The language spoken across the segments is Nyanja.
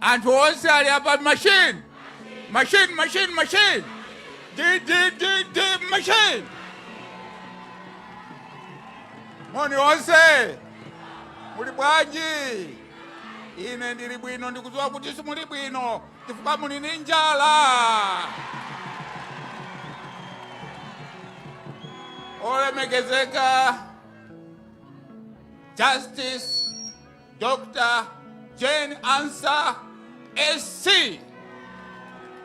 anthu onse ali apa machine machine machine machine di di di di machine moni onse muli bwanji ine ndili bwino ndikudziwa kuti simuli bwino chifukwa muli ndi njala olemekezeka justice Dr. Jane Ansah SC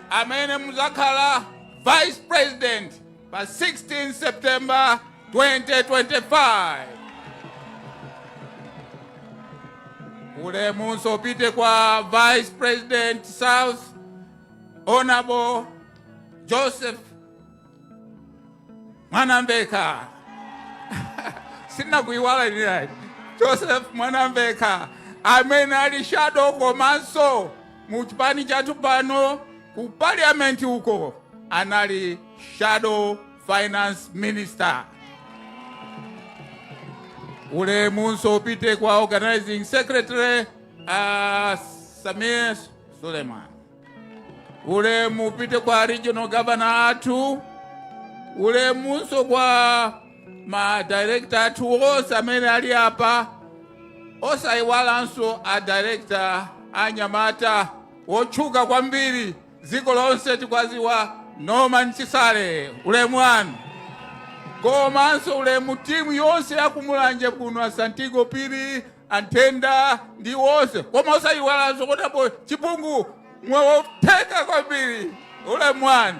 amene muzakhala Vice President pa 16 September 2025. Ulemu usapite kwa Vice President South Honorable Joseph mwanamveka sinakuiwala nili joseph mwanamveka amene ali shadow komanso mu chipani chathu pano ku parliament uko anali shadow finance minister ulemunso upite kwa organizing secretary uh, samir suleiman ulemu upite kwa regional governor athu ulemunso kwa ma director athu onse amene ali apa osayiwalanso a director anyamata wotchuka kwambiri dziko lonse tikwaziwa norman chisale ulemu wanu komanso ulemu timu yonse yakumulanje kuno asantigo phiri anthenda ndi wonse koma osayiwalanso kotapo chipungu wotchuka kwambiri ulemu wanu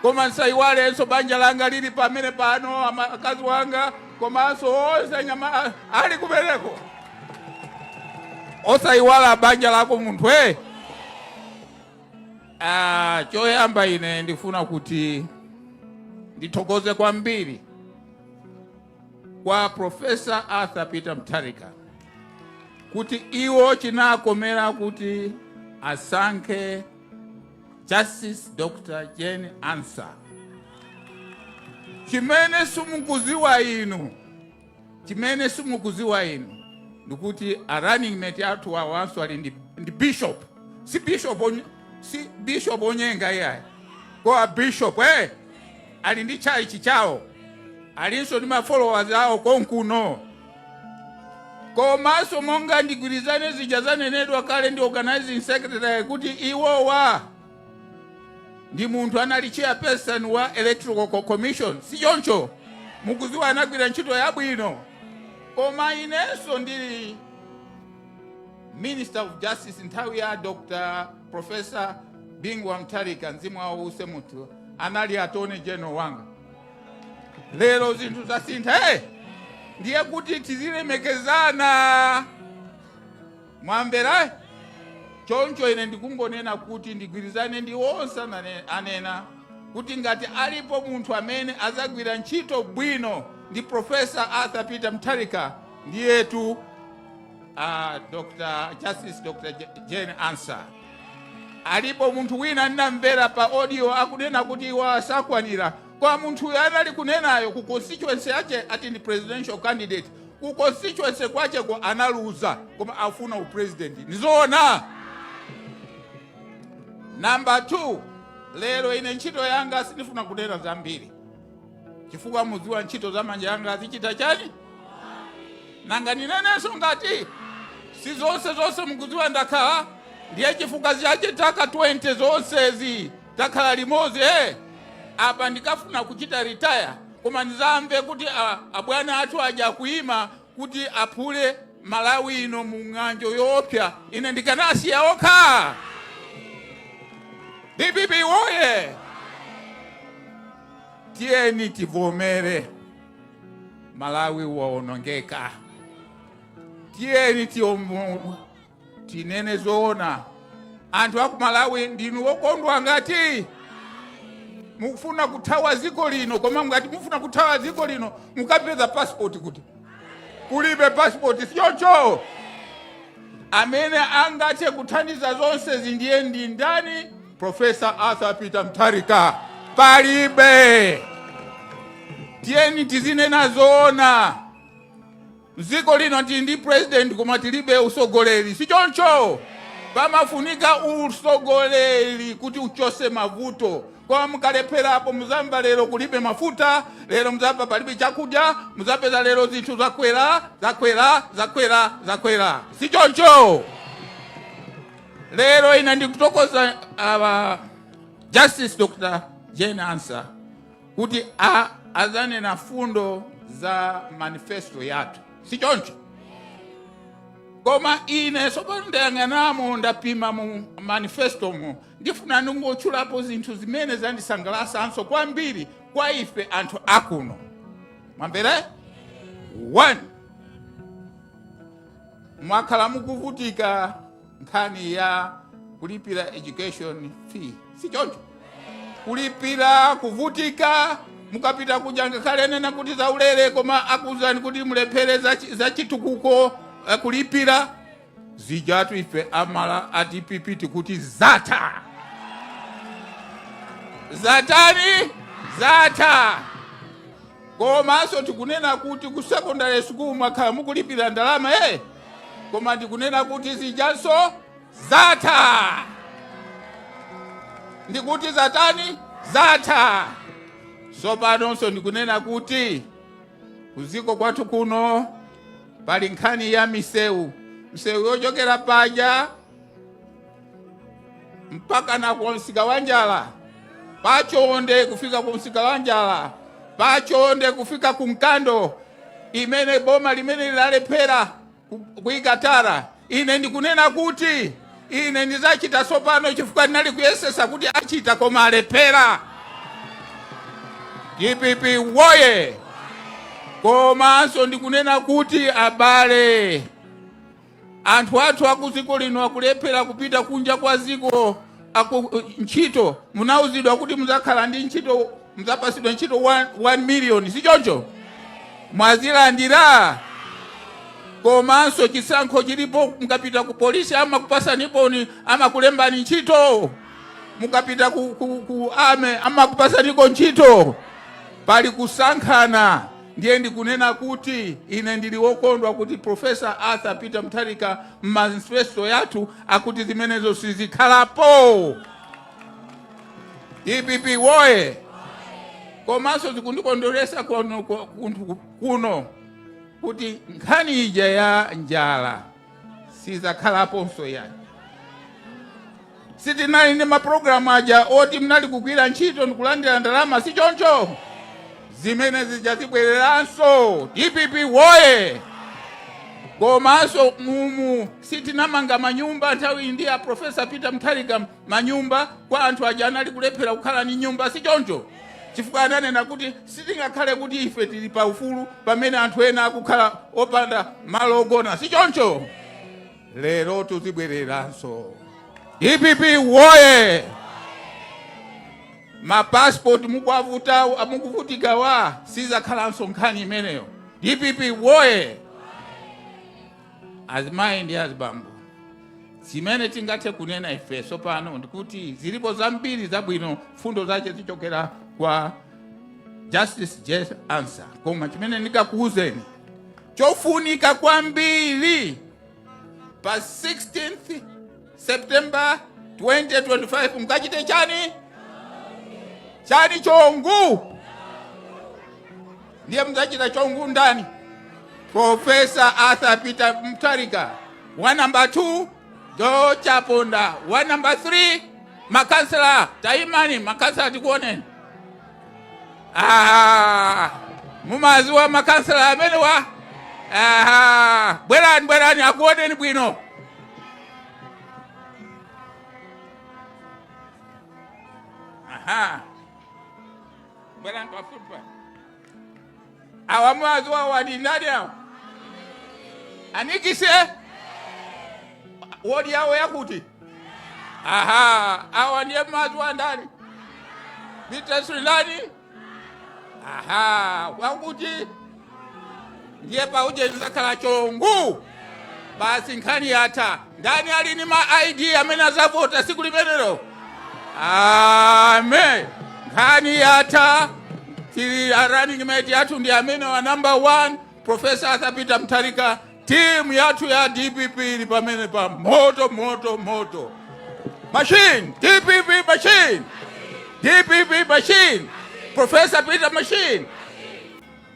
koma nsayiwalenso banja langa lili pamene pano ama- akazi wanga komanso onse anyama a- ali kumeneko osayiwala banja lako munthu e ah, choyamba ine ndifuna kuti ndithokoze kwambiri kwa Profesa Arthur Peter Mutharika kuti iwo chinakomera kuti asankhe Justice Dr. Jane Ansah. Chimene simukuziwa inu, chimene simukuziwa inu ndikuti a running mate athu awanso ali ndi, ndi bishop si bishop onye, si bishop onyenga iyayi koma bishop eh? ali ndi tchalitchi chawo alinso ndi ma followers awo konkuno komanso monga ndigwirizane zija zanenedwa kale ndi organizing secretary kuti iwowa ndi munthu anali chairperson wa electoral Co- commission si choncho mukuziwa anagwira ntchito yabwino koma inenso ndili minister of justice nthawi ya dr Profesa Bingu wa Mutharika, mzimu wawo uwuse mumtendere, anali attorney general wanga. Lero zinthu zasintha, hey! ndiye kuti tizilemekezana mwamvera choncho ine ndikungonena kuti ndigwirizane ndi onse anane- anena kuti ngati alipo munthu amene azagwira ntchito bwino ndi profesa arthur peter mutharika ndiyetu uh, Dr. Justice Dr. J- Jane Ansah alipo munthu wina ndinamvera pa audio akunena kuti iwa sakwanira koma munthu uyo anali kunenayo ku constituency yache ati ndi presidential candidate ku constituency kwacheko analuza koma afuna upresident ndizoona namba 2 lero ine ntchito yanga sindifuna kunena zambiri chifukwa mudziwa ntchito za manja anga muzichita chani nanga ninenenso ngati si zonse zonse mukudziwa ndakhala ndiye chifukwa chache taka 20 zonsezi takhala limodzi apa ndikafuna kuchita ritaya koma ndizamve kuti a- abwana athu aja kuima kuti aphule malawi ino mu ng'anjo yoopsya ine ndikanasiya okha dpp woye Tiyeni tivomere Malawi waonongeka. Tiyeni ti- tinene zoona. Anthu aku Malawi ndinu okondwa ngati mukufuna kuthawa dziko lino, koma ngati mukufuna kuthawa dziko lino mukapeza passport kuti kulibe passport sichoncho amene angathe kuthandiza zonsezi ndiye ndi ndani profesa arthur peter mutharika palibe tiyeni tizinena zoona mdziko lino tili ndi president koma tilibe usogoleri sichoncho pamafunika usogoleri kuti uchose mavuto koma mukalephera apo muzamva lero kulibe mafuta lero muzamva palibe chakudya muzapeza lero zinthu zakwera zakwera zakwera zakwera si choncho lero ine ndikuthokoza uh, justice dr jane ansah kuti a azanena fundo za manifesto yathu si choncho koma ine sopano ndayang'anamo ndapima mu manifesto mu Ndifuna ndingotchulapo zinthu zimene zandisangalasanso kwambiri kwa ife anthu akuno. Mwamvera? One, mwakhala mukuvutika nkhani ya kulipira education fee, si choncho? Kulipira kuvutika, mukapita kuja ngakhale anena kuti zaulere, koma akuuzani kuti mulipire za chi- za chitukuko eh, kulipira Zijatu ife amala a dpp tikuti zatha zatani zatha komanso tikunena kuti ku secondary school mwakhala mukulipira ndalama eh koma ndikunena kuti zijanso zatha ndikuti zatani zatha sopanonso ndikunena kuti kuziko kwathu kuno pali nkhani ya misewu msewu yochokera paja mpaka na kwa msika wa njala pa chonde kufika ku msika wa njala pa chonde kufika ku mkando imene boma limene linalephera ku- kuika tara Ine ndikunena kuti ine ndizachita tsopano chifukwa anali kuyesesa kuti achita koma alephera. Dpp woye! Komanso ndikunena kuti abale, anthu athu a ku dziko lino akulephera kupita kunja kwa dziko Aku, uh, ntchito munauzidwa kuti muzakhala ndi ntchito muzapasidwa ntchito 1 million si choncho mwazilandira komanso chisankho chilipo mukapita ku polisi amakupasani boni amakulembani ntchito mukapita ku, ku, ku army amakupasaniko ntchito pali kusankhana ndiye ndikunena kuti ine ndili wokondwa kuti profesa arthur peter mutharika m'manifesto yathu akuti zimenezo sizikhalapo dpp woye komanso zikundikondweresa kono ko- kunthu- kuno kuti nkhani ija ya njala sizakhalaponso yayi Sitinali ndi ma program aja oti mnali kugwira ntchito ndikulandira ndalama sichoncho? Zimene zija zibwereranso. Dpp woye! Komanso mumu sitinamanga manyumba nthawi ndi ya Professor Peter Mutharika manyumba kwa anthu aja anali kulephera kukhala ndi nyumba sichoncho? Chifukwa ananena kuti sitingakhale kuti ife tili pa ufulu pamene anthu ena akukhala opanda malo ogona sichoncho? lerotu zibwereranso dpp woye mapasipoti mukwavuta mukuvutikawa sizakhalanso nkhani imeneyo dpp woye azimayi ndi azibambo zimene tingathe kunena ife tsopano ndikuti zilipo zambiri zabwino mfundo zache zichokera kwa justice jane ansah koma chimene ndikakuuzeni Chofunika kwambiri pa 16th September 2025 mkachite chani chani chongu ndiye muzachita chongu ndani profesa arthur peter mutharika wa namba 2 dr chaponda wa namba 3 makansela taimani makansela tikuoneni Aha, mumaziwa makansela amenewa aha bwerani bwerani akuoneni bwino aha bwerani pafupi pa awa mwaziwa wadi ndani awa anikise wodi yawo yakuti aha awa ndiye mwaziwa ndani bitesu ndani aha wakuti ndiye pauje ndizakhala chongu basi nkhani yatha ndani ali ni ma id amene azavota siku limenelo amen nkhani yatha tili ya running mate yathu ndi amene wa number 1 professor arthur peter mutharika timu yathu ya dpp ili pamene pa moto moto moto machine dpp machine dpp machine professor peter machine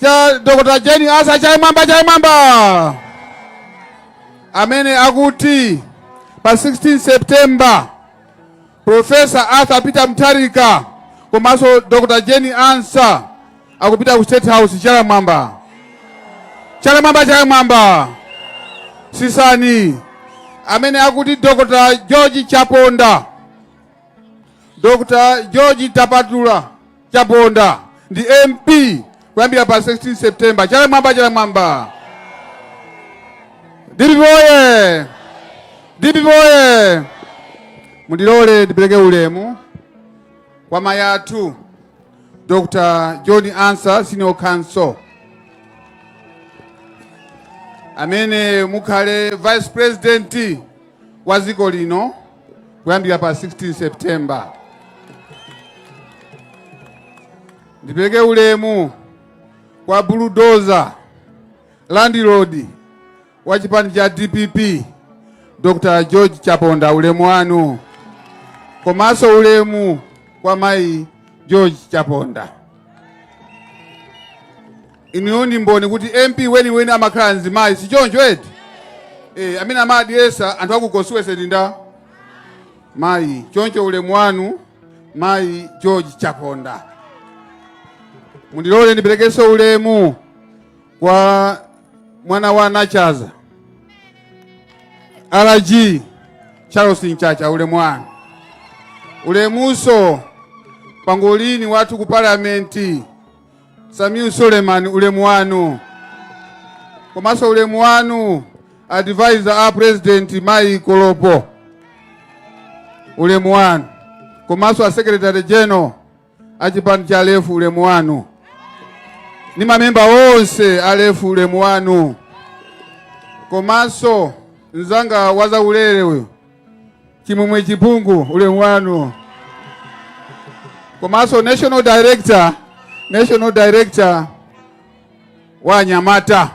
cha Dr. Jane Ansah chala mmwamba chala mmwamba amene akuti pa 16 September Professor Arthur Peter Mutharika komanso Dr. Jane Ansah akupita ku State House chala mmwamba chala mmwamba chala mmwamba tsitsani amene akuti Dr. George Chaponda Dr. George Thapatula Chaponda ndi MP kuyambira pa 16 September. Chala mmwamba, chala mmwamba. DPP oye! DPP oye! Mundilole ndipeleke ulemu kwa mayi athu Dr. Jane Ansah Senior Counsel amene mukhale Vice President wa dziko lino. kuyambira pa 16 September. Ndipeleke ulemu kwa buludoza landilodi wa chipani cha DPP Dr. George Chaponda, ulemu wanu komanso ulemu kwa mayi George Chaponda. Inuyo ndi mboni kuti MP weniweni amakhala mzimayi sichoncho eti? Eeh amene amadyesa anthu aku constituency ndi nda? Mayi choncho ulemu wanu mayi George Chaponda. Mundilole ndipelekeso ulemu kwa mwana wa Nachaza RG Charles Mchacha ulemu wanu. Ulemuso pangolini wathu ku parliament Samiu Suleiman ulemu wanu komanso ulemu wanu advisor a president Mai Kolopo ulemu wanu komanso a secretary general a chipani cha Aford ulemu wanu ni mamemba onse a Aford ulemu wanu komanso mzanga wa zaulele uyu chimwemwe chipungu ulemu wanu komanso national director wa anyamata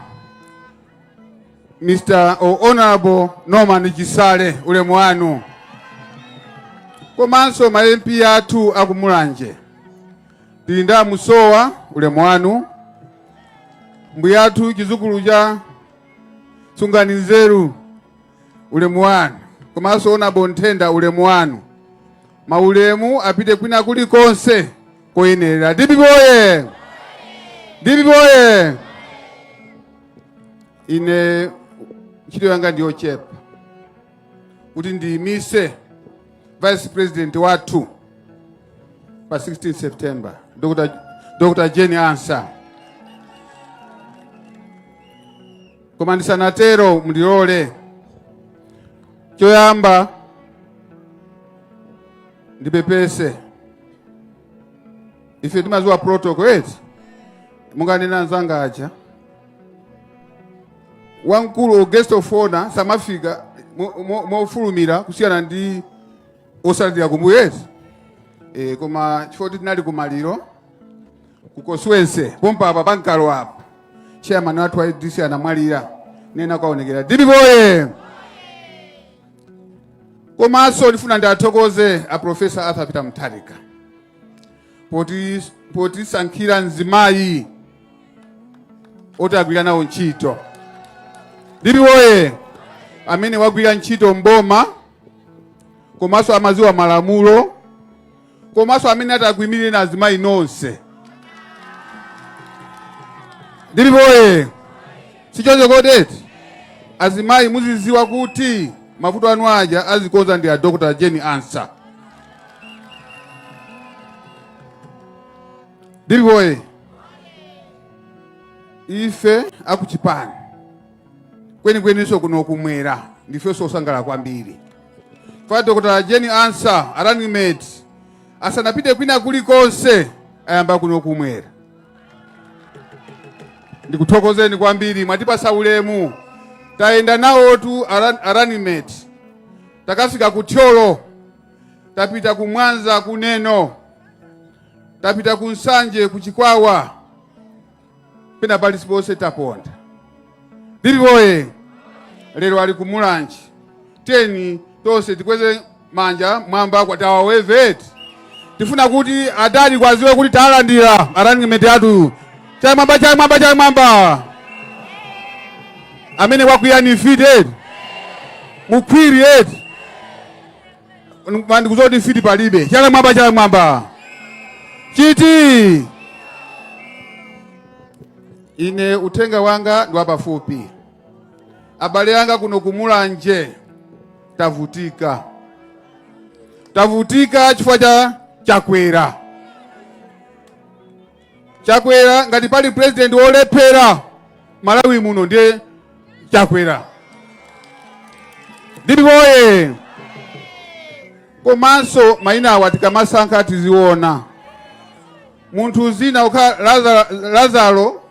mr honorable norman chisale ulemu wanu komanso ma mp athu akumulanje tili ndi amusowa ulemu wanu mbuyathu chizukulu cha sungani nzeru ulemu wanu komanso honorable nthenda ulemu wanu maulemu apite kwina kuli konse koyenerera DPP oye DPP oye ine ntchito yanga ndiyochepa kuti ndiyimise vice president wathu pa 16 september dr jane ansah Koma ndisanatero mundilole choyamba ndipepese ife timaziwa protocol eti monga anena anzanga aja wamkulu guest of honor samafika mofulumira kusiyana ndi otsatira kumbuyo eti e, koma chifukwa tinali kumaliro kwa Nkosi wense pompapa pa Nkalo apa chairman wathu wa DC anamwalira nde tinakaonekera DPP oye komanso ndifuna ndiathokoze a professor Arthur Peter Mutharika potisankhira mzimayi oti agwira nawo ntchito DPP oye amene wagwira ntchito m'boma komanso amaziwa malamulo komanso amene ati akuimirireninso azimayi nonse DPP oye sichoncho kodi eti azimayi muziziwa kuti mavuto anu aja azikonza ndi a dr jane ansah DPP oye ife akuchipani kwenikweninso kuno kumwera ndifenso osangalala kwambiri kwa dr Jane Ansah a running mate asanapite kwina kulikonse ayamba kuno kumwera ndikuthokozeni kwambiri mwatipatsa ulemu tayenda nawotu a run- a running mate takafika ku thyolo tapita ku mwanza ku neno tapita ku nsanje ku chikwawa pena paliponse taponda ndipoye lero ali ku mulanje tiyeni tonse tikweze manja mmwamba kwa tawaweveti tifuna kuti adadi akadziwe kuti talandira a running mate athu chala mmwamba chala mmwamba chala mmwamba amene wakwiya ndi mfiti eti mukhwiri eti Koma ndikudziwa kuti mfiti palibe. Chala mmwamba, chala mmwamba. Chiti. Ine uthenga wanga ndi wapafupi. Abale anga kuno ku Mulanje tavutika. Tavutika chifukwa cha Chakwera. chakwera ngati pali president wolephera malawi muno ndiye chakwera ndipoye komanso mayina awa tikamasankha tiziona munthu dzina kukhala Lazaro- lazaro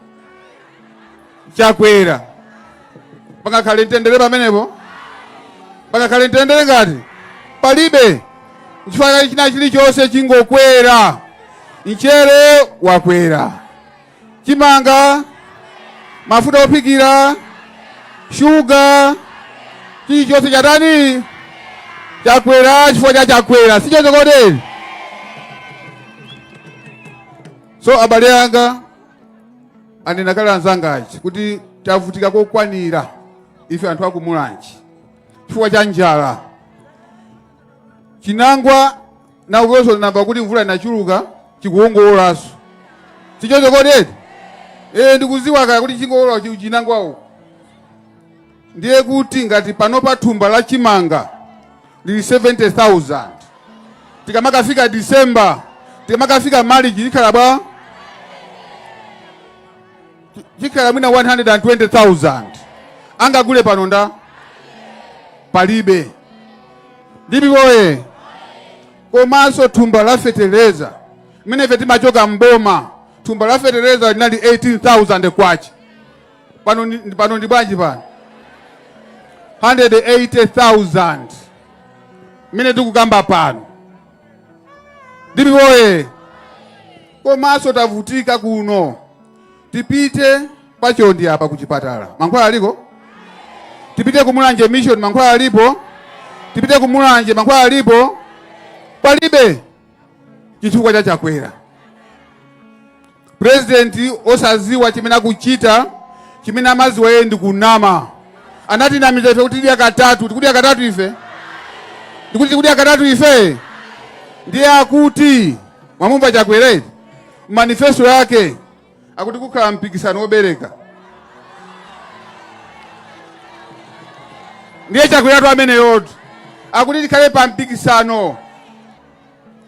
Chakwera. Pangakhale mtendere pamenepo? Pangakhale mtendere ngati? Palibe. Nchifukwa chake china chilichonse chingokwera. Mchere wakwera. Chimanga, mafuta ophikira, shuga, chilichonse chatani? Chakwera chifukwa cha Chakwera. Si choncho kodi? So abale anga anena kale anzanga aja kuti tavutika kokwanira ife anthu aku mulanje chifukwa cha njala chinangwa na uwezo namba kuti mvula inachuluka chikuwolanso sichoncho kodi eti eh ndikuziwa kaya kuti chingolola chi- chinangwawo ndiye kuti ngati pano pa thumba la chimanga lili 70,000 tikamakafika December tikamakafika March likhala bwanji likhala mwina 120,000 angagule pano ndani palibe ndipoye komanso thumba la feteleza mmene ife timachoka mboma thumba la feteleza linali 18,000 kwacha pano ndi- pano ndi bwanji pano 180,000 mmene tikukamba pano DPP woye komanso tavutika kuno tipite pa Chonde apa kuchipatala mankhwala aliko tipite ku Mulanje Mission mankhwala alipo tipite ku Mulanje mankhwala alipo palibe chifukwa cha Chakwera purezidenti osaziwa chimene akuchita chimene amaziwa yeye ndi kunama anatinamiza ife kuti tidya katatu tikudya katatu ife ndikuti tikudya katatu ife ndiye akuti mwamumva Chakwera manifesto yake akuti kukhala mpikisano wobereka ndiye Chakweratu ameneyotu akuti tikhale pa mpikisano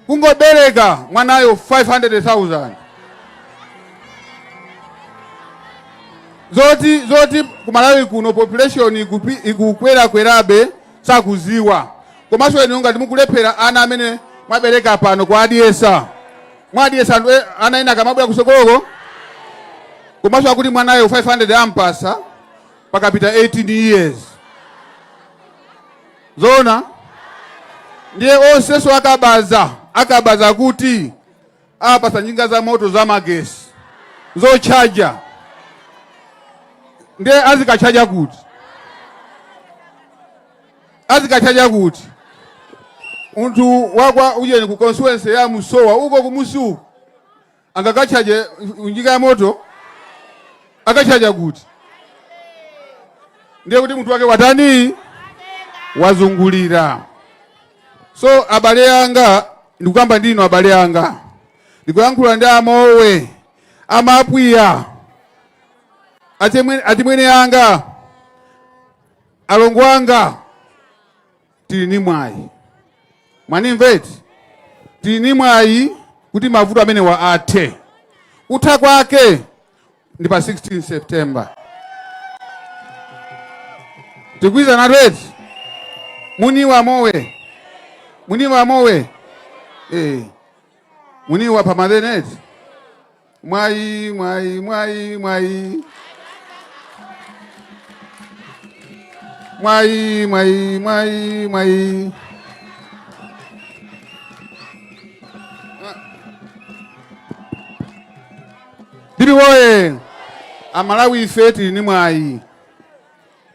kungobereka mwanayo 500,000 zoti zoti ku Malawi kuno population ikupi- ikukwerakwerabe sakuziwa komanso inu ngati mukulephera ana amene mwabereka pano kuwadyesa mwadyesa anthu e- ana ena akamabwera kusogoloko komanso akuti mwanayo 500 ampasa pakapita 18 years zoona ndiye onsenso akabaza a kabaza kuti apasa njinga za moto za magesi zochaja ndiye azikachaja kuti azikatchaja kuti munthu wakwa ujeni ku constituency ya Musowa uko kumusi uko angakatchaje njinga ya moto akatchaja kuti ndiye kuti munthu wake watani wazungulira so abale anga ndikukamba ndi inu abale anga ndikuyankhula ndi a Lomwe amapwiya atimwene anga Alongo anga tili ni mwayi, mwanimva eti? Tili ni mwayi kuti mavuto amenewa athe. Kutha kwake ndi pa 16 September. Tikugwirizanatu eti? Muniwa mowe, muniwa mowe, eh, muniwa pamaleni eti? Mwayi, mwayi, mwayi, mwayi. Mwayi, mwayi, mwayi, mwayi. DPP woye. Amalawi ife tili ni mwayi.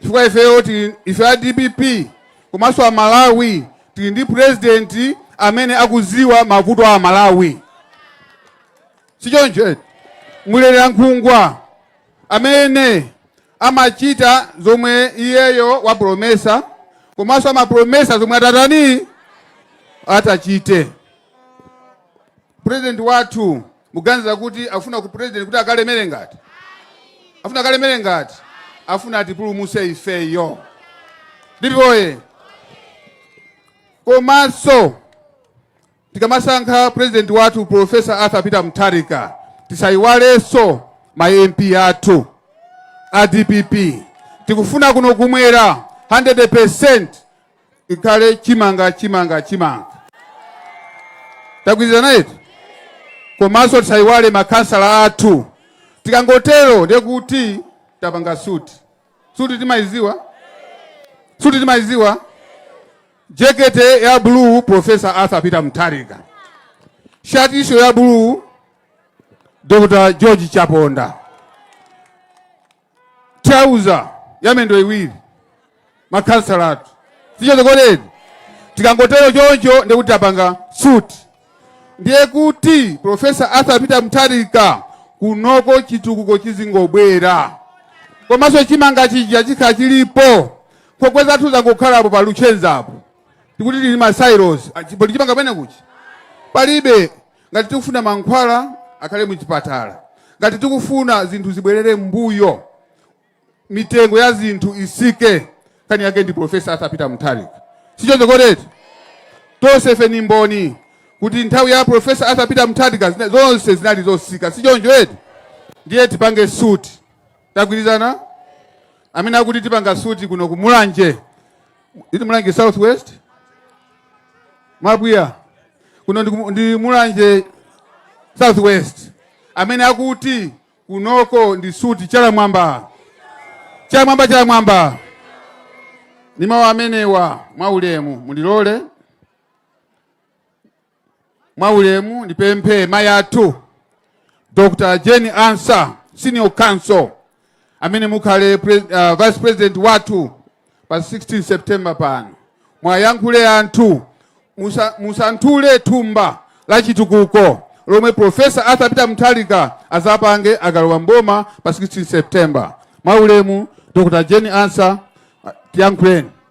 Chifukwa ifeyo tili ife a DPP komanso Amalawi tili ndi president amene akuziwa mavuto a Amalawi. sichoncho Mlera nkhungwa amene amachita zomwe iyeyo wapromesa komanso amapromesa zomwe atatani atachite president wathu muganiza kuti afuna ku president kuti akalemere ngati afuna akalemere ngati afuna atipulumutse ifeyo ndipoye komanso Tikamasankha president wathu Professor Arthur Peter Mutharika tisayiwalenso ma MP athu a DPP. Tikufuna kuno kumwera 100% ikhale chimanga chimanga chimanga. Tagwirizana eti? Komanso tisayiwale makhansala athu. Tikangotero ndiye kuti tapanga suti. Suti timayiziwa? Suti timayiziwa? Jekete ya blue Professor Arthur Peter Mutharika. Shati iyo ya blue Dr. George Chaponda. Thalauza ya mendo iwiri makhansala athu sichoncho kodi eti tikangotero choncho ndiye kuti tapanga suti ndiye kuti Professor Arthur Peter Mutharika kunoko chitukuko chizingobwera komanso chimanga chija chikhala chilipo nkhokwe zathu zangokhalapo pa luchenza apo tikuti tili ma silos Ah, chi- pali chimanga pene kuchi palibe ngati tikufuna mankhwala akhale muchipatala ngati tikufuna zinthu zibwerere mbuyo mitengo ya zinthu isike nkhani yake ndi profesa Arthur Peter mutharika sichoncho kodi eti tonse ife ni mboni kuti nthawi ya profesa Arthur Peter mutharika zina- zonse zinali zosika sichoncho eti ndiye tipange suti tagwirizana amene akuti tipanga suti kuno ku mulanje iti mulanje south west mwabwiya kuno ndi, ku- ndi mulanje south west amene akuti kunoko ndi suti chala mmwamba chala mmwamba chala mmwamba ndi mawu amenewa mwaulemu mundilole Mwaulemu ndipemphe mayi athu Dr. Jane Ansah, Senior Counsel, amene mukhale pre, uh, Vice President wathu pa 16 September pano. Mwayankhule anthu musa, musanthule thumba la chitukuko lomwe Profesa Arthur Peter Mutharika azapange akalowa mboma pa 16 September. Mwaulemu Dr. Jane Ansah, tiyankhuleni.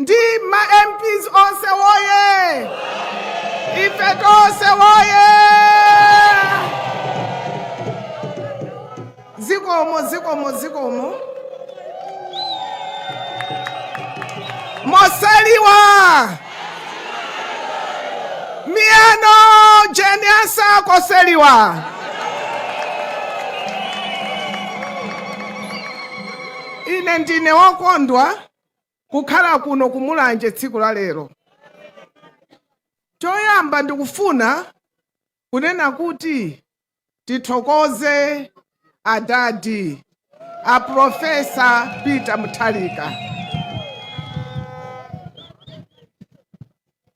ndi ma mps onse woye ife tonse woye zikomo zikomo zikomo mosaliwa miyano jeniasa koseliwa ine ndine wokondwa kukhala kuno ku Mulanje tsiku la lero. Choyamba ndikufuna kunena kuti tithokoze adadi a Profesa Peter Mutharika.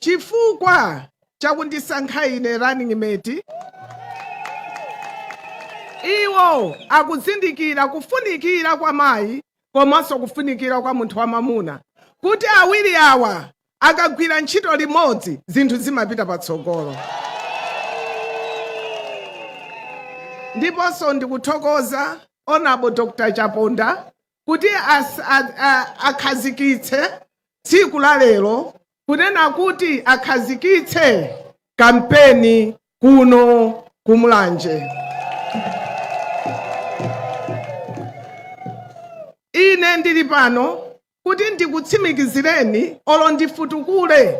chifukwa chakundisankha ine running mate. Iwo akuzindikira kufunikira kwa mayi komanso kufunikira kwa munthu wamamuna kuti awiri awa akagwira ntchito limodzi zinthu zimapita patsogolo. Ndiponso ndikuthokoza Honorable Dr. Chaponda kuti akhazikitse tsiku la lero kunena kuti akhazikitse kampeni kuno ku Mulanje ine ndili pano kuti ndikutsimikizireni olo ndifutukule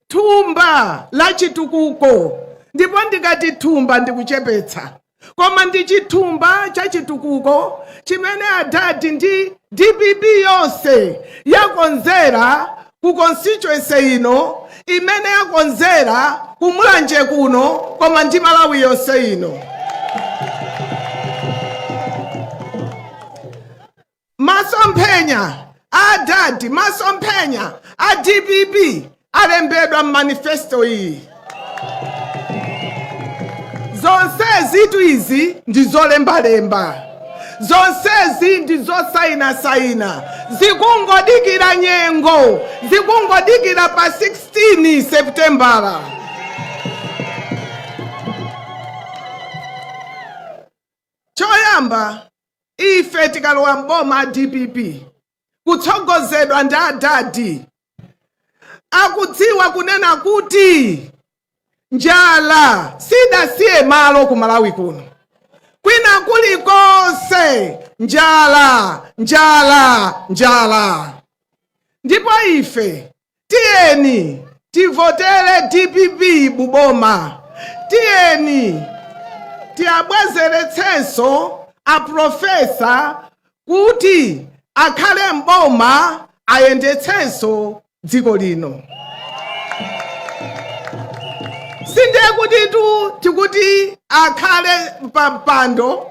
thumba la chitukuko ndipo ndikati thumba ndikuchepetsa koma ndi chithumba cha chitukuko chimene adadi ndi dpp yonse yakonzera ku constituency ino imene yakonzera ku Mulanje kuno koma ndi malawi yonse ino Masomphenya a adadi, masomphenya a dpp alembedwa m'manifesto iyi. Zonsezitu izi ndi zolembalemba, zonsezi ndi zosayinasayina, zikungodikira nyengo, zikungodikira pa 16 Seputembala. Choyamba Ife tikalowa m'boma a dpp kutsogozedwa ndi adadi akudziwa kunena kuti njala sidasiye malo ku Malawi kuno, kwina kulikonse njala, njala, njala. Ndipo ife Tiyeni tivotere dpp buboma tiyeni tiwabwezeretsenso a professor kuti akhale m'boma ayendetsenso dziko lino sindiye kutitu tikuti akhale pa mpando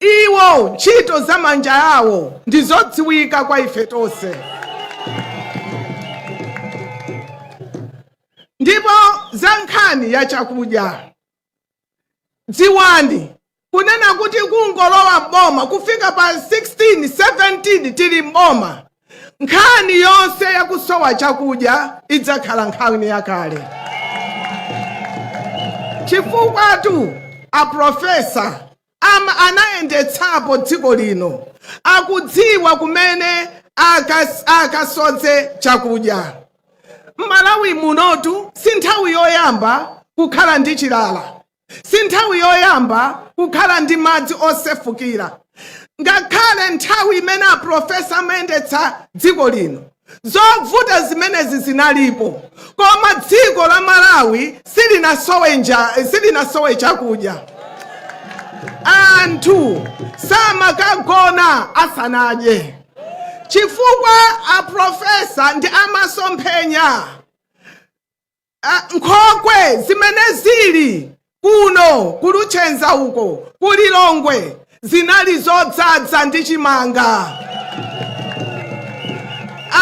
Iwo ntchito za manja awo ndi zodziwika kwa ife tonse. Ndipo za nkhani ya chakudya, dziwani kunena kuti kungolowa m'boma kufika pa 16, 17 tili m'boma Nkhani yonse ya kusowa chakudya idzakhala nkhani yakale, chifukwatu aprofesa am anayendetsapo dziko lino akudziwa kumene akas, akasodze chakudya. M'Malawi munotu si nthawi yoyamba kukhala ndi chilala si nthawi yoyamba kukhala ndi madzi osefukira ngakhale nthawi imene aprofesa amayendetsa dziko lino zovuta zimenezi zinalipo koma dziko la malawi silinasowe nja- silinasowe chakudya anthu samakagona asanadye chifukwa aprofesa ndi amasomphenya uh, nkhokwe zimene zili kuno ku Luchenza uko ku Lilongwe zinali zodzadza ndi chimanga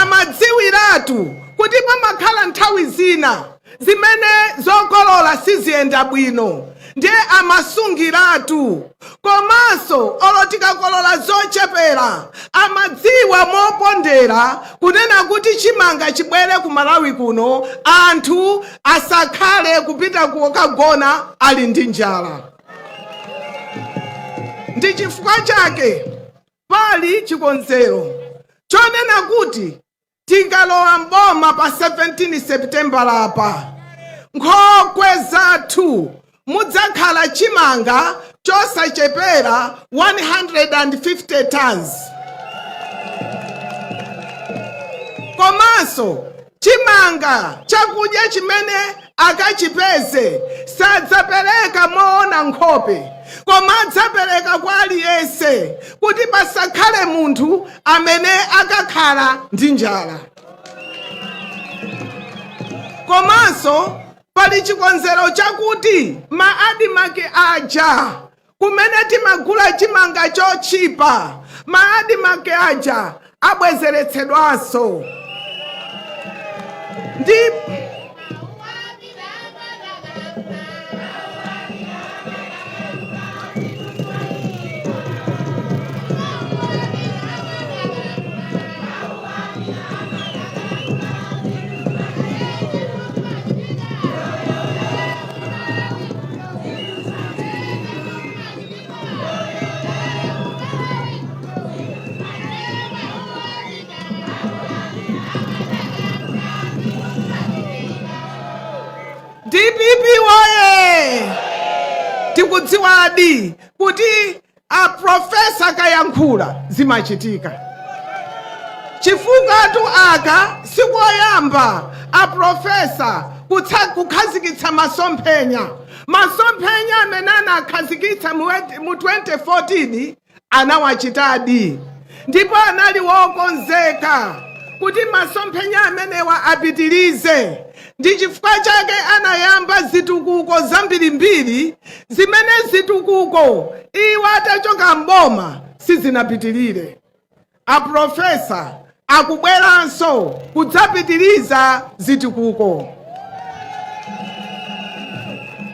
amadziwiratu kuti pamakhala nthawi zina zimene zokolola siziyenda bwino ndiye amasungiratu komanso olo tikakolola zochepera amadziwa mopondera kunena kuti chimanga chibwere ku malawi kuno anthu asakhale kupita kukagona ali ndi njala ndi chifukwa chake pali chikonzero chonena kuti Tikalowa m'boma pa 17 Sepitembala-pa, nkhokwe zathu mudzakhala chimanga chosachepera 150 tons komanso chimanga chakudya chimene akachipeze sadzapereka moona nkhope koma adzapereka kwa aliyense kuti pasakhale munthu amene akakhala ndi njala komanso pali chikonzero chakuti ma admarc aja kumene timagula chimanga chotchipa ma admarc aja abwezeretsedwanso ndi dpp woye tikudziwadi kuti aprofesa kayankhula zimachitika chifukwatu aka sikoyamba aprofesa kutsa- kukhazikitsa masomphenya Masomphenya amene anakhazikitsa mu 2014 anawachitadi ndipo anali wokonzeka kuti masomphenya amenewa apitirize. Ndi chifukwa chake anayamba zitukuko zambirimbiri zimene zitukuko iwo atachoka m'boma sizinapitirire. A Pulofesa akubweranso kudzapitiriza zitukuko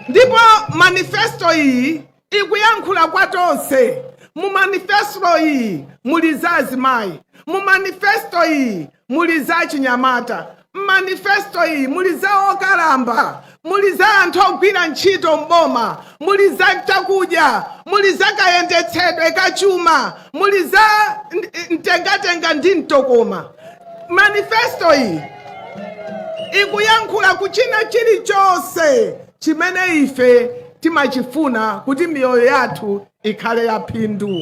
ndipo manifesto iyi ikuyankhula kwa tonse. Mu manifesto iyi muli za azimayi, mu manifesto iyi muli za achinyamata, m'manifesto iyi muli za okalamba, muli za anthu ogwira ntchito m'boma, muli za chakudya, muli za kayendetsedwe ka chuma, muli za nt- mtengatenga ndi mtokoma. Manifesto iyi ikuyankhula ku china chilichonse chimene ife timachifuna kuti miyoyo yathu ikhale ya phindu.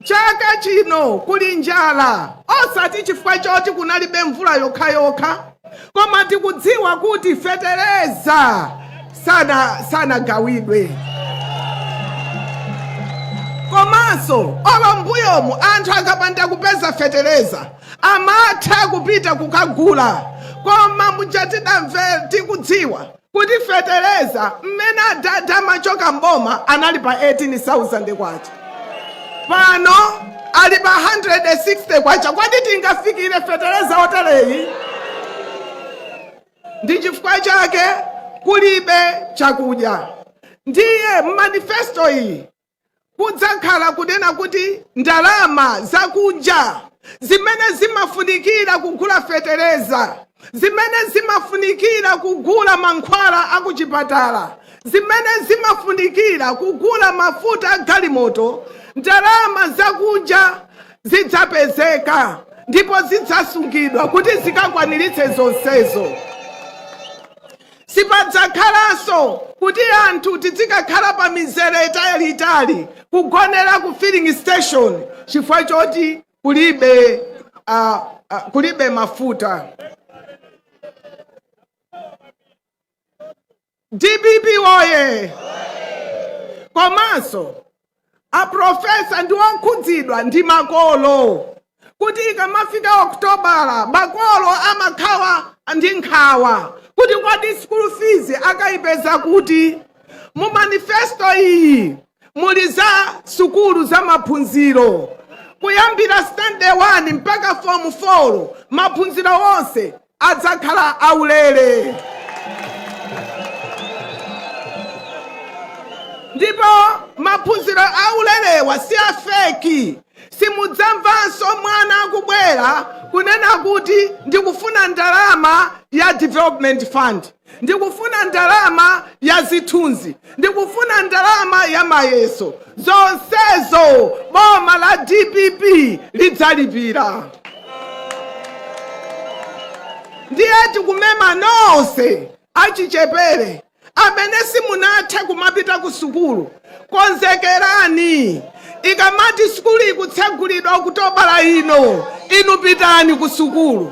Chaka chino kuli njala osati chifukwa choti kunalibe mvula yokhayokha koma tikudziwa kuti fetereza sana sanagawidwe komanso olo mbuyomu anthu akapanda kupeza fetereza amatha kupita kukagula koma muja tidamve tikudziwa kuti fetereza mmene adadi amachoka mboma anali pa 18000 kwacha pano ali pa 160 kwacha kodi tingafikire fetereza otereyi ndi chifukwa chake kulibe chakudya ndiye mmanifesto iyi kudzakhala kunena kuti ndalama zakunja zimene zimafunikira kugula fetereza zimene zimafunikira kugula mankhwala akuchipatala zimene zimafunikira kugula mafuta a galimoto ndalama zakunja zidzapezeka ndipo zidzasungidwa kuti zikakwaniritse zonsezo Sipadzakhalanso kuti anthu tidzikakhala pa mizere italiitali kugonera ku filling station chifukwa choti kulibe, a, a, kulibe mafuta. Dpp woye! Komanso Aprofesa ndi okhudzidwa ndi makolo kuti ikamafika Okutobala makolo amakhala ndi nkhawa kuti kodi school fees akaipeza kuti. Mu manifesto iyi muli za sukulu za maphunziro kuyambira sitandade 1 mpaka fomu 4, maphunziro onse. adzakhala aulere ndipo maphunziro aulerewa si afeki simudzamvanso mwana akubwera kunena kuti ndikufuna ndalama ya development fund ndikufuna ndalama ya zithunzi ndikufuna ndalama ya mayeso zonsezo boma la dpp lidzalipira ndiye tikumema nonse achichepere amene simunathe kumapita ku sukulu Konzekerani! Ikamati sukulu ikutsegulidwa Okutobala ino, inu pitani kusukulu.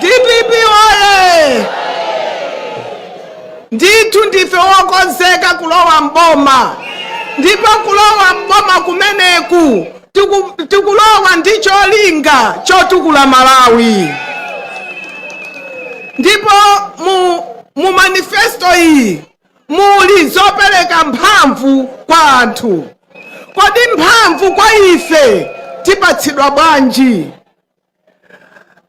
Dpp woyee! Ndithu ndife wokonzeka kulowa m'boma ndipo kulowa m'boma kumeneku tiku, tikulowa ndi cholinga chotukula Malawi ndipo mu, mu manifesto iyi muli zopereka mphamvu kwa anthu. Kodi mphamvu kwa ife tipatsidwa bwanji?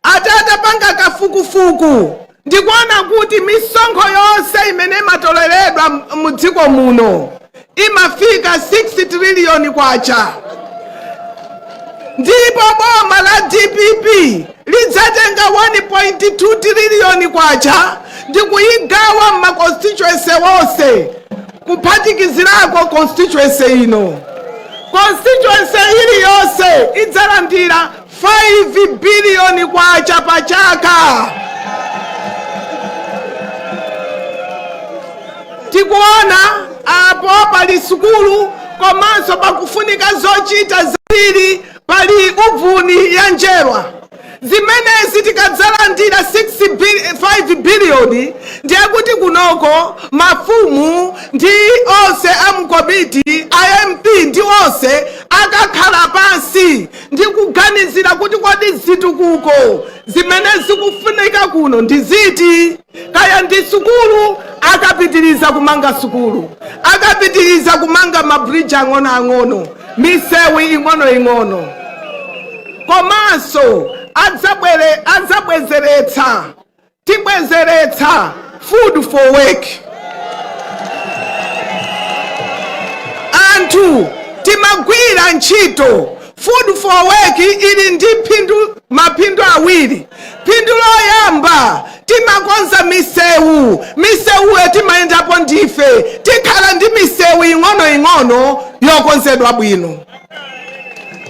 ati atapanga kafukufuku ndikuona kuti misonkho yonse imene imatoleredwa m- mu dziko muno imafika 6 triliyoni kwacha ndipo boma la dpp lidzatenga 1.2 triliyoni kwacha ndi kuyigawa m'ma constituency wonse kuphatikizirako constituency ino constituency iliyonse idzalandira 5 biliyoni kwacha pa chaka. Tikuona apo pali sukulu komanso pakufunika zochita zambiri, pali uvuni ya njerwa zimenezi tikadzalandira 5 biliyoni ndiye kuti kunoko mafumu ndi onse a mkomiti a mp ndi onse akakhala pansi ndikuganizira kuti kodi zitukuko zimene zikufunika kuno ndi ziti kaya ndi sukulu akapitiriza kumanga sukulu akapitiriza kumanga mabridge ang'onoang'ono misewu ing'onoing'ono komanso adzabwezeretsa Tibwezeretsa Food for Work. Anthu timagwira ntchito. Food for Work ili ndi maphindu awiri. Phindu loyamba timakonza misewu. Misewuyo timayendapo ndife. Tikhala ndi misewu ing'onoing'ono yokonzedwa bwino.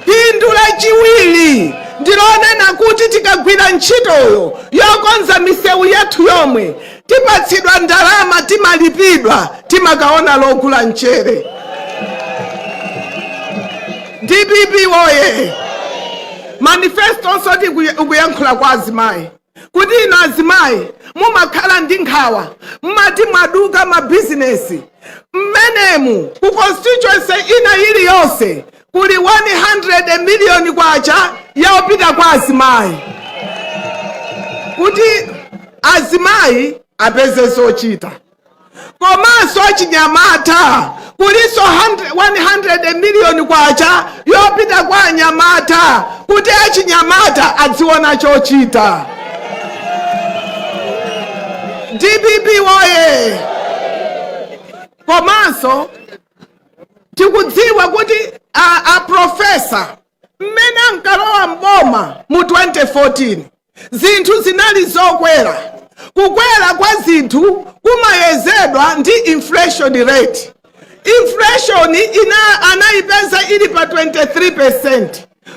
Phindu lachiwiri ndi lonena kuti tikagwira ntchitoyo yokonza misewu yathu yomwe, tipatsidwa ndalama, timalipidwa, timakaona logula mchere. Dpp woye! Manifestonso ikuyankhula kwa azimayi. kuti inu azimayi mumakhala ndi nkhawa mmati mwaduka mabizinesi mmenemu ku constituency ina iliyonse kuli 100 miliyoni kwacha yopita kwa azimayi kuti azimayi apeze zochita komanso achinyamata kulinso 100 miliyoni kwacha yopita kwa anyamata kuti achinyamata adziona chochita dpp woye komanso tikudziwa kuti a, a profesa mmene ankalowa mboma mu 2014 Zinthu zinali zokwera. Kukwera kwa zinthu kumayezedwa ndi inflation rate. Inflation anayipeza ili pa 23%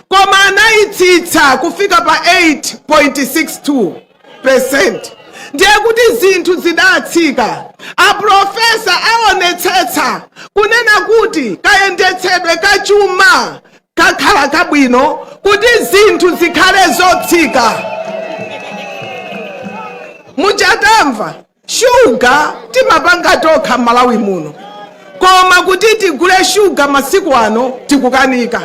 koma anayitsitsa kufika pa 8.62%. Ndiye kuti zinthu zidatsika. Aprofesa aonetsetsa kunena kuti kayendetsedwe ka chuma kakhala kabwino kuti zinthu zikhale zotsika muchatamva shuga timapanga tokha malawi muno koma kuti tigule shuga masiku ano tikukanika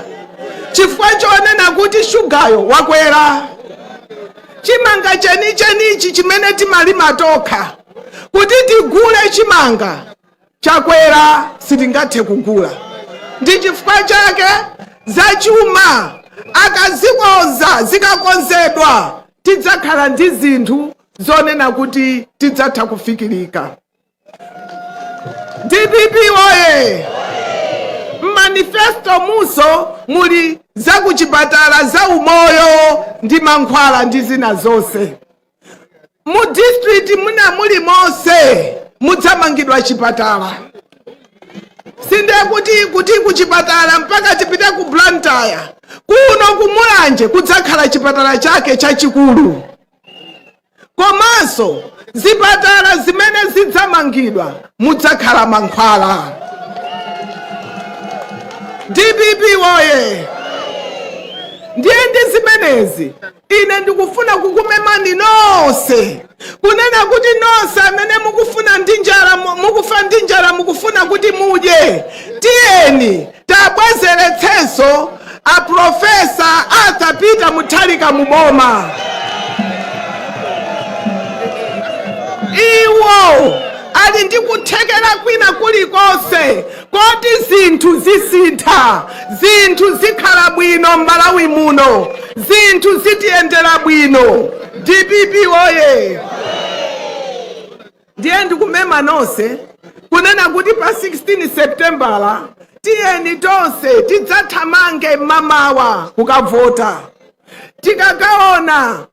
chifukwa chonena kuti shugayo wakwera chimanga chenichenichi chimene timalima tokha kuti tigule chimanga Chakwera sitingathe kugula ndi chifukwa chake zachuma akazikonza zikakonzedwa tidzakhala ndi zinthu zonena kuti tidzatha kufikirika. Dpp woye! M'manifesto munso muli zakuchipatala, zaumoyo ndi mankhwala ndi zina zonse. mu district mwina mulimonse mudzamangidwa chipatala sindiye kuti kuti kuchipatala mpaka tipite ku blantyre kuno kumulanje kudzakhala chipatala chake chachikulu komanso zipatala zimene zidzamangidwa mudzakhala mankhwala dpp woye ndiye ndi zimenezi ine ndikufuna kukumemani nonse kunena kuti nonse amene mukufuna ndi njala mu- mukufa ndi njala mukufuna kuti mudye tiyeni tiabwezeretsenso aprofesa arthur peter mutharika muboma iwo ali ndi kuthekera kwina kulikonse Koti zinthu zisintha, zinthu zikhala bwino Mmalawi muno, zinthu zitiyendera bwino. Dpp woyee! Ndiye ndikumema nonse kunena kuti pa 16 Sepitembala tiyeni tonse tidzathamange mmamawa kukavota. Tikakaona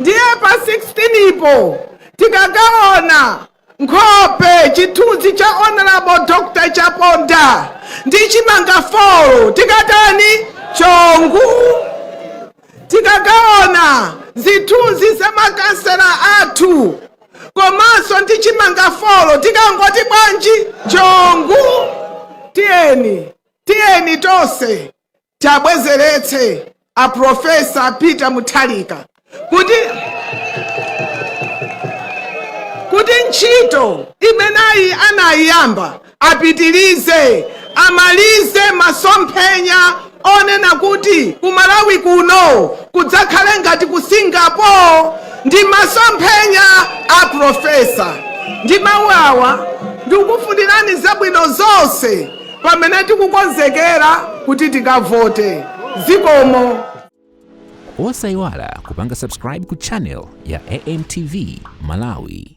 Ndiye pa 16 po tikakaona nkhope, chithunzi cha Hon. Dr. Chaponda ndi chimanga folo tikatani? Chongu. Tikakaona zithunzi za makansela athu komanso ndi chimanga folo tikangoti bwanji? Chongu. Tiyeni, tiyeni tonse tiabwezeretse a professor Peter Mutharika kuti ntchito imeneyi anayiyamba apitirize amalize masomphenya onena kuti ku Malawi kuno kudzakhale ngati ku Singapore ndi masomphenya a profesa ndi mawu awa ndikufunirani zabwino zonse pamene tikukonzekera kuti tikavote. Zikomo. Osaiwala kupanga subscribe ku channel ya AMTV Malawi.